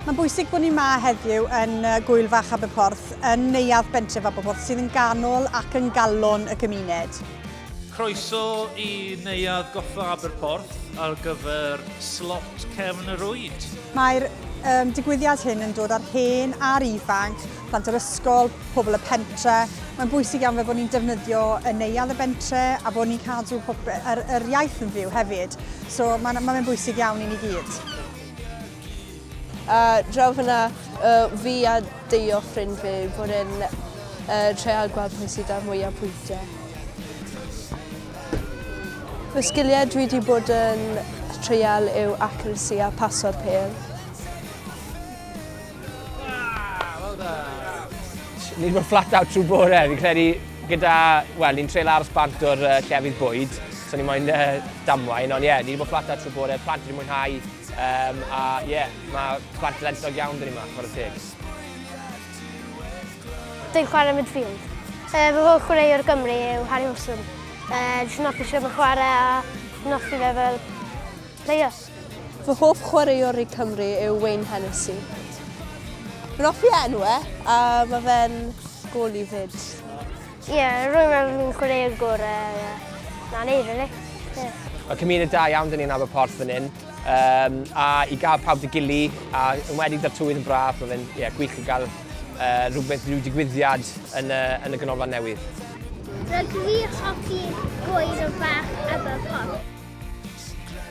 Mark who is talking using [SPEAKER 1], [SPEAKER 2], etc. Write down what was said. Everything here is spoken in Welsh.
[SPEAKER 1] Mae'n bwysig bod ni yma heddiw yn Gwyl Fach Aberporth, yn neuadd bentref Aberporth, sydd yn ganol ac yn galon y gymuned. Croeso
[SPEAKER 2] i neuadd Goffa Aberporth ar gyfer slot cefn y rwyd. Mae'r um,
[SPEAKER 1] digwyddiad hyn yn dod ar hen a'r ifanc plant yr ysgol, pobl y pentre. Mae'n bwysig iawn fe bod ni'n defnyddio y neuadd y bentre a bod ni'n cadw yr, yr iaith yn fyw hefyd. So mae'n ma bwysig iawn i ni gyd. A
[SPEAKER 3] draw fyna, uh, fi a deio ffrind fi bod yn uh, treial gweld pwy sydd â'r mwyaf pwyntiau. Fy sgiliau dwi wedi bod yn treial yw accuracy a paso'r pel.
[SPEAKER 4] Ni wedi bod flat out trwy bore, fi'n credu gyda, wel, ni'n treul aros bant o'r uh, llefydd bwyd, so ni moyn uh, damwain, ond ie, yeah, ni wedi bod flat out trwy bore, plant wedi mwynhau, um, a ie, yeah, mae plant lentog iawn dyn ni yma, chwarae teg.
[SPEAKER 5] Dwi'n chwarae midfield. Uh, fy holl chwarae o'r Gymru yw Harry Wilson. Uh, Dwi'n hoffi sy'n chwarae a dwi'n hoffi fe fel players. Fy hoff
[SPEAKER 3] chwaraewr i Cymru yw Wayne Hennessy. Rwy'n hoffi enw e, a mae fe'n gol i fyd. Ie,
[SPEAKER 5] yeah, rwy'n meddwl fi'n chwaraewr gorau. Yeah. Na, neu, really. Yeah. Mae cymuned
[SPEAKER 4] da iawn dyn ni'n Aber Porth fan hyn. Um, a i gael pawb dy gili, a yn wedi da'r tywydd yn braf, mae fe'n yeah, gwych i gael uh, rhywbeth, rhyw digwyddiad yn, uh, yn y ganolfan newydd.
[SPEAKER 6] Rydw i'n hoffi gwaed o fach
[SPEAKER 4] Aber
[SPEAKER 6] Porth.